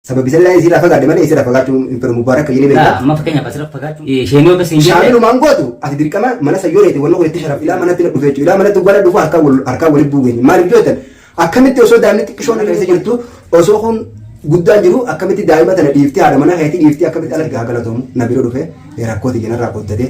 Sababi sallaa isii irraa fagaadhe malee isii irraa fagaachuun hin fedhu Mubaarak jedhee beekta. Amma fakkeenyaaf asirra fagaachuu isheenii ofi siin jedhee. Shaamilumaan gootu ati dirqama mana sayyoo reeti wanna godhetti sharaf ilaa manatti na dhufee ilaa manatti wala dhufu harkaa wal harkaa walitti buugeenye maaliif jootan akkamitti osoo daa'imni xiqqishoon keessa jirtu osoo kun guddaan jiru akkamitti daa'ima tana dhiiftee haadha mana keetii dhiiftee akkamitti alatti haa galatomu na bira dhufee. Rakkoo tiyya narraa qooddatee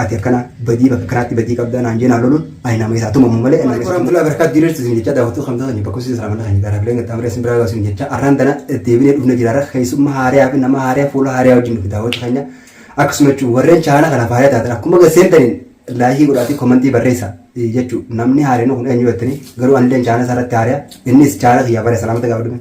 ati akkana badii bakka kanaatti badii qabdaa naan jee naan loluun ani nama isaa tumamu malee. Waalaikum warahmatullahi wabarakatuh diriirtu isin jecha daawwattuu kamtoota ni bakkoofsi isin raamalla kan garaa bileen gaxxaamree isin biraa gaasuun jecha arraan tana deebinee dhufne jiraarra keessummaa haariyaa fi nama haariyaa fuula haariyaa wajjin dhufe daawwatu keenya akkasuma jechuun warreen chaanaa kanaaf haariyaa taatan akkuma gaseentaniin laayikii godhaatii komantii barreessa jechuun namni haariyaa kun eenyu jettanii garuu anilleen chaanaa isaarratti haariyaa innis chaanaa kiyyaa baree salaamata gaafa dhume.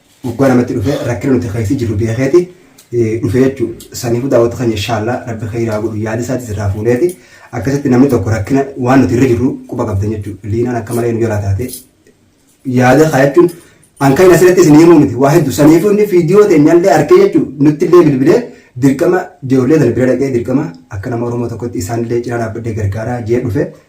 Dhugaa namatti dhufe rakkina nuti keessa jirru beekeeti dhufe jechuun saniifuu daawwatu keenya inshaallah rabbi kheyraa godhu yaada isaati sirraa fuuneeti akkasitti namni tokko rakkina waan nuti irra jirru quba qabdan jechuun liinaan akka malee nu jalaa taate yaada kaa jechuun an kan asirratti isin himuu miti waa hedduu saniifuu inni viidiyoo teenyallee arkee jechuun nutti illee bilbilee dirqama ijoollee sana bira dhaqee dirqama akka nama Oromoo tokkotti isaan illee cinaa dhaabbadhee gargaaraa jee dhufe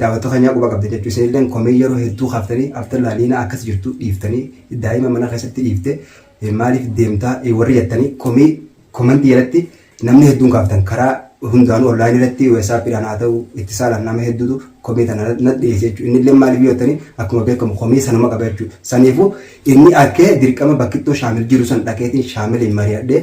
Daawattuu keenyaa quba qabda jechuu isinilleen komee yeroo hedduu kaaftanii after laaliina akkas jirtu dhiiftanii daa'ima mana keessatti dhiifte maaliif deemtaa warri jettanii komii komantii jalatti namni hedduun kaaftan karaa hundaanuu online irratti weesaappiidhaan haa ta'u itti saalaan nama hedduutu komii tana na dhiyeesse jechuudha. Inni illee maaliif yoo ta'ani akkuma beekamu komii sanuma qaba jechuudha. Saniifuu inni akkee dirqama bakkittoo shaamil jiru san dhaqeetiin shaamiliin mari'adhee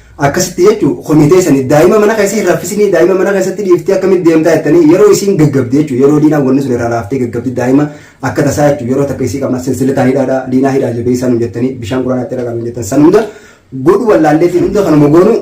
Akkasitti jechu kuni teesani daima mana keessa hin raffisini daima mana keessatti dhiiftee akkamit deemtaa jettanii yeroo isiin gaggabdi jechu yeroo liinaan wanni sun irraa laaftee gaggabdi daima akka tasaa jechu yeroo takka isii qabnaa silsilataa hidhaadha liinaa hidhaa jabeessaa nun jettanii bishaan quraanaa itti dhaqaa nun jettan san hunda godhu wallaalleetii hunda kanuma goonu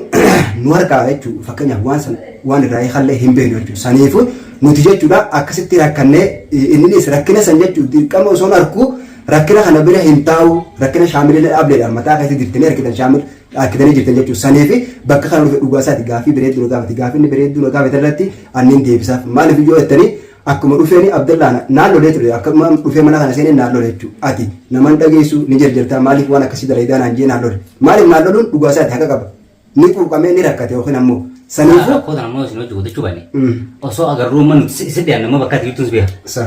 nu harkaa jechu fakkeenyaaf waan san waan irraa eegallee hin beeknu jechu saniifu nuti jechuudha akkasitti rakkannee inninis rakkina san jechu dirqama osoo hin arku rakkina kana bira hin taa'u rakkina shaamillee dhaableedha mataa keessatti dirtanii argitan shaamil Dhaakkitanii jirtan jechuudha. Saniifi bakka kana dhufe dhugaa isaati gaaffii bireedduu na gaafate. Gaaffii inni bireedduu na gaafate irratti anniin deebisaaf. Maaliif yoo jettani akkuma dhufeeni Abdallaan naan lolee ture. Akkuma dhufee mana kana seeneen naan lole jechuudha. Ati nama hin dhageessu ni jarjartaa maaliif waan akkasii dalaydaa naan jedhee naan lole. Maaliif naan loluun dhugaa isaati haqa qaba. Ni quuqamee ni rakkate yookiin ammoo. Saniifuu. Rakkoo sana ammoo isin hojii guddachuu baanne. Osoo agarruu amma nuti si dhiyaanne amma bakka ati jirtuun si beeka. Sa.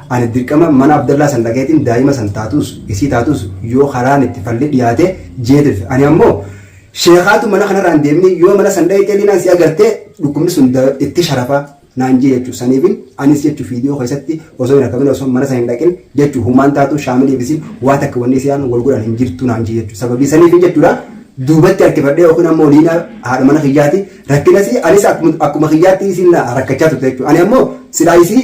Ani dirqama mana Abdallaa san dhaqeetiin daa'ima san taatuus isii taatuus yoo karaan itti falli dhiyaate je'ee tirfe. Ani ammoo sheekhaatu mana kanarraa hin deeminii yoo mana san dhayxee liinaan si agartee dhukkubni sun itti sharafa naan je'e jechu. Saniifin anis jechu fiidiyoo keessatti osoo hin argamin osoo mana san hin dhaqin jechu humaan taatu shaamiliif isin waa takka wanni isiyaan wal godhan hin jirtu naan je'e jechu. Sababii saniifin jechuudha duubatti harkifadhee yookiin ammoo liinaa haadha mana kiyyaati rakkinasi anis akkuma kiyyaatti isin rakkachaa turte jechu. Ani ammoo silaa isii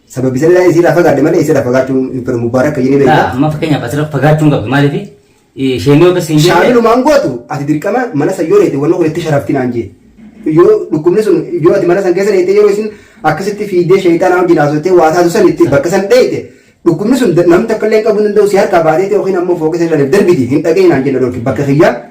Sababi sanaa isiirraa fagaadhe malee isiirraa fagaachuun hin fedhu Mubaarak jedhee beekna. Laa amma fakkeenyaaf asirra fagaachuun qabdu maaliif isheen yoo keessa hin jirre Shaamilumaan gootu ati dirqama mana san yoo reete wanni kun itti sharafti naan jee. Yoo dhukkubni sun yoo ati mana san keessa reete yeroo isin akkasitti fiidee sheeyxaanaa wajjin haasofte waa taatu san itti bakka san dheeyte dhukkubni sun namni takka illee hin qabu hin danda'u si harkaa baatee yookiin ammoo fooqisa irra darbiti hin dhaga'in naan jenna dhorki bakka kiyyaa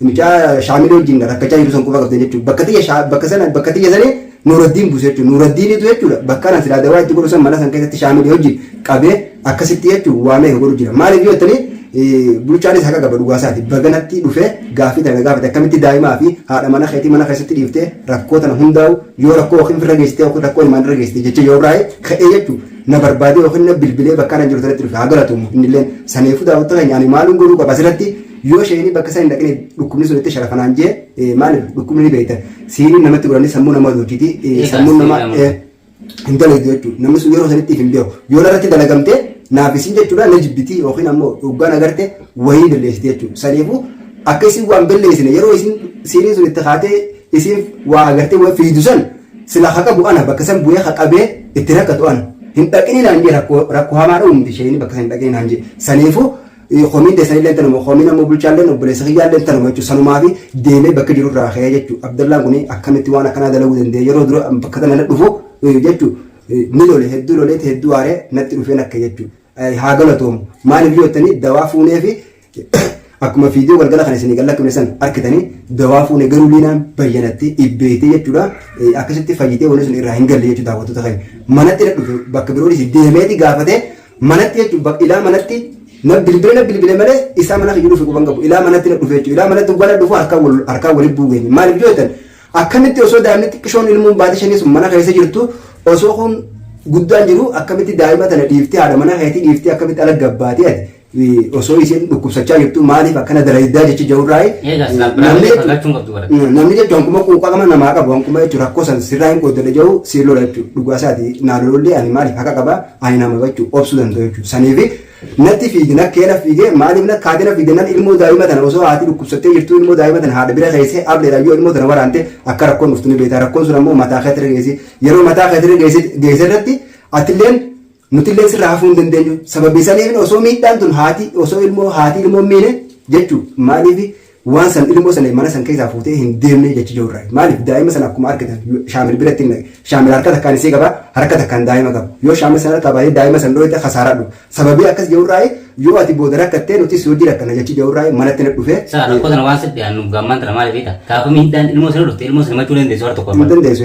Mucaa shaamilee wajjin rakkachaa jiru san quba qabdan jechuudha. Bakka tiyya shaa- bakka sana bakka tiyya sanii Nuuraddiin buuse jechuudha. Nuuraddiinitu jechuudha bakka anan silaa dawaa itti godhu san mana san keessatti shaamilee wajjin qabee akkasitti jechuun waa meeqa godhu jira. Maaliif yoo jettanii eh, bulchaanis haqa qaba dhugaa isaati. Baganatti dhufee gaaffii tana na gaafate akkamitti daa'imaa fi haadha mana keetii mana keessatti dhiiftee rakkoo tana hundaa'u yoo rakkoo yookiin firra geessitee yookiin rakkoo ilmaan irra geessitee jecha yoo biraa'ee ka'ee jechuudha. na barbaadee yookiin na bilbilee bakka anan jiru sanatti dhufe haa galatuumu innilleen saniifuu daawwatta keenya ani maaluun godhuu qaba asirratti Yoo isheen bakka sana hin dhaqne dhukkubni sun itti sharafa naan jee eh, maaliif dhukkubni ni beekta. Siiniin namatti godhanii sammuu namaa doojiti. Egaa Sammuun namaa siinii eh, hin dalagdu jechuudha. Namni sun yeroo sanitti hin beeku. Yoo narratti dalagamte naaf isin jechuudha na jibbiti yookiin ammoo dhugaan agarte wayii balleessiti jechuudha. Saniifuu akka isin waan balleessine yeroo isin siiniin sun itti kaatee isin waa agartee waa fiidu san sila haqa bu'ana bakka san bu'ee haqabee itti rakkatu ana. Hin dhaqini naan jee rakkoo rakkoo hamaa dha'uumti isheen bakka san hin dhaqini naan jee. Saniifuu Komiin teessan illee tanuma komiin ammoo bulchaa illee obboleessa kiyyaa illee tanuma jechuudha sanumaa fi deemee bakka jiru irraa ka'ee jechuudha Abdallaan kun akkamitti waan akkanaa dalaguu danda'e yeroo dura bakka tana dhufu jechuudha ni lole hedduu loleeti hedduu aaree natti dhufee nakke jechuudha haa galatoomu maaliif yoo jettanii dawaa fuunee fi akkuma viidiyoo galgala kan isinii gallakkifne san argitanii dawaa fuune garuu liinaan bayyanatti ibbeetee jechuudha akkasitti fayyitee wanni sun irraa hin galle jechuudha daawwattoota keenya manatti na dhufe bakka biroo dhisi deemeeti gaafatee Manatti jechuun bakka ilaa manatti na bilbile na bilbile malee isaa mana kiyyu dhufe quban qabu ilaa manatti na dhufe jechuudha ilaa manatti gwana dhufu harkaan wal harkaan walitti buugeenye maaliif yoo ta'an akkamitti osoo daa'imni xiqqishoon ilmuun baate shanii sun mana keessa jirtu osoo kun guddaan jiru akkamitti daa'ima tana dhiiftee haadha mana keetii dhiiftee akkamitti ala gabbaatee ati osoo isheen dhukkubsachaa jirtu maaliif akkana dalayiddaa jecha jawurraa Eegas namni jechuun fagachuun qabdu bara. namni jechuun hankuma quuqaa qaba namaa qabu hankuma jechuun rakkoo san sirraa hin qooddadha jahu siillola jechuudha dhugaa isaati naalolollee ani maaliif haqa qaba Ani nama jechuun obsuu danda'u jechuudha. Saniifi natti fiige nakkee na fiige maaliif nakkaatee na fiige nan ilmoo daa'ima tana osoo haati dhukkubsattee jirtuu ilmoo daa'ima tana haadha bira keessee ableedhaan yoo ilmoo tana waraante akka rakkoon dhuftu ni beektaa rakkoon sun ammoo mataa keetirra geessi yeroo mataa keetirra geesse irratti atilleen nutilleen sirraa hafuu hin dandeenyu sababii saniif osoo miidhaan tun haati osoo ilmoo haati ilmoo miine jechuudha maaliif Waan san ilmoo san mana san keessaa fuutee hin deemne jechi jiru irraa. Maaliif daa'ima sana akkuma argitan shaamil biratti hin dhaqe. Shaamil harka takkaan isii qaba harka takkaan daa'ima qaba. Yoo shaamil sana harkaa baatee daa'ima san dhooyte kasaaraa dhufa. Sababii akkas jiru irraa yoo ati booda rakkattee nuti si wajji rakkanna jechi jiru irraa manatti na dhufee. Saa rakkoo sana waan sitti aannuuf gaammaan tana maaliif hiita? Gaafa miidhaan ilmoo sana dhufte ilmoo sana himachuu dandeessu harka tokko hin dandeessu.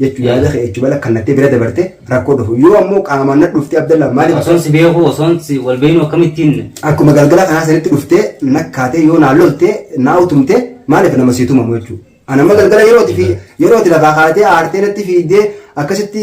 jechu yaada kee jechu bala kallattee bira dabarte rakkoo dhufu yoo ammoo qaamaan na dhufte abdallaa maaliif Osoon si beeku osoon si wal beeknu akkamittiin akkuma galgala kanaa sanitti dhuftee nakkaatee yoo naa loltee naa utumtee maaliif nama sii tumamu jechuudha. Anamma galgala yerooti fi yerooti lafaa kaatee aartee natti fiiddee akkasitti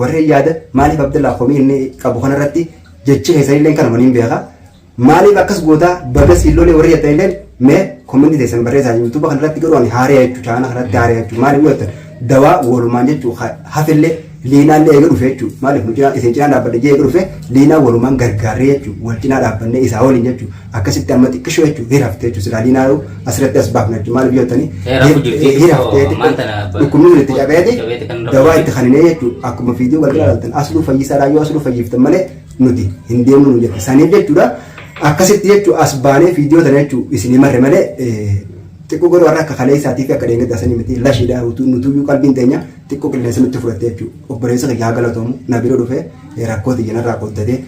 Warreen yaada maaliif Abdallaa komii inni qabu kanarratti jechi keessanilleen kanuma niin beeka. Maaliif akkas gootaa baga siin lolee warri jettanilleen mee komentii teessan barreessaa yuutuuba kanarratti garuu ani haaree jechuu chaana kanarratti haaree jechuu maaliif yoo jettan dawaa walumaan jechuu hafillee liinaallee eega dhufe jechuu maaliif nu cinaa isin cinaa dhaabbadhe jee eega dhufe liinaa walumaan gargaarree jechuu wal cinaa dhaabbannee isaa waliin jechuu akkasitti amma xiqqishoo jechuun hira haftee jechuun silaa liinaa yoo asirratti as baafna jechuun maaliif yoo ta'ani hira haftee dhukkubni sun itti cabeeti dawaa itti kaninee jechuun akkuma fiidiyoo galgala laaltan asluu fayyisaadhaa yoo asluu fayyiftan malee nuti hin deemnu nu jette saniif jechuudha akkasitti jechuun as baanee fiidiyoo tana jechuun isinii marre malee xiqqoo garuu har'a akka kaleessaatii fi akka deengedda sanii miti lashiidhaa utuu nutuyyuu qalbiin teenya xiqqoo qilleensa nutti fudhatte jechuudha obboleessa kiyyaa galatoomu na bira dhufee rakkoo tiyyanarraa qooddatee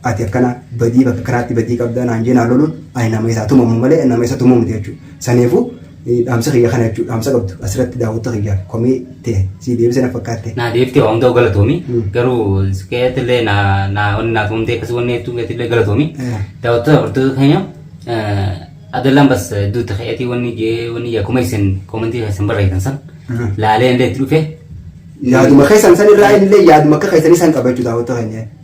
ati akkana badii bakka karaatti badii qabdaa naan jee naan loluun ani nama isaa tumamu malee nama isa tumuu miti jechuudha. Saniifuu eh, dhaamsa kiyya kana jechuudha. Dhaamsa qabdu asirratti daawwatta kiyyaaf komii ta'e sii deebisee na fakkaatte. naa deebitee waan ta'u galatoomi Mm. garuu keetillee naa naa wanni naa tuumtee akkasii wanni hedduu keetillee galatoomi Eh. daawwattoota hordoota keenya adallaan bas duuta keetii wanni jee wanni jee akkuma isin koomantii keessan barreessan san Mm. laalee illee itti dhufe Yaaduma keessan san irraa illee yaaduma akka keessanii san qabachuu daawwatta keenya.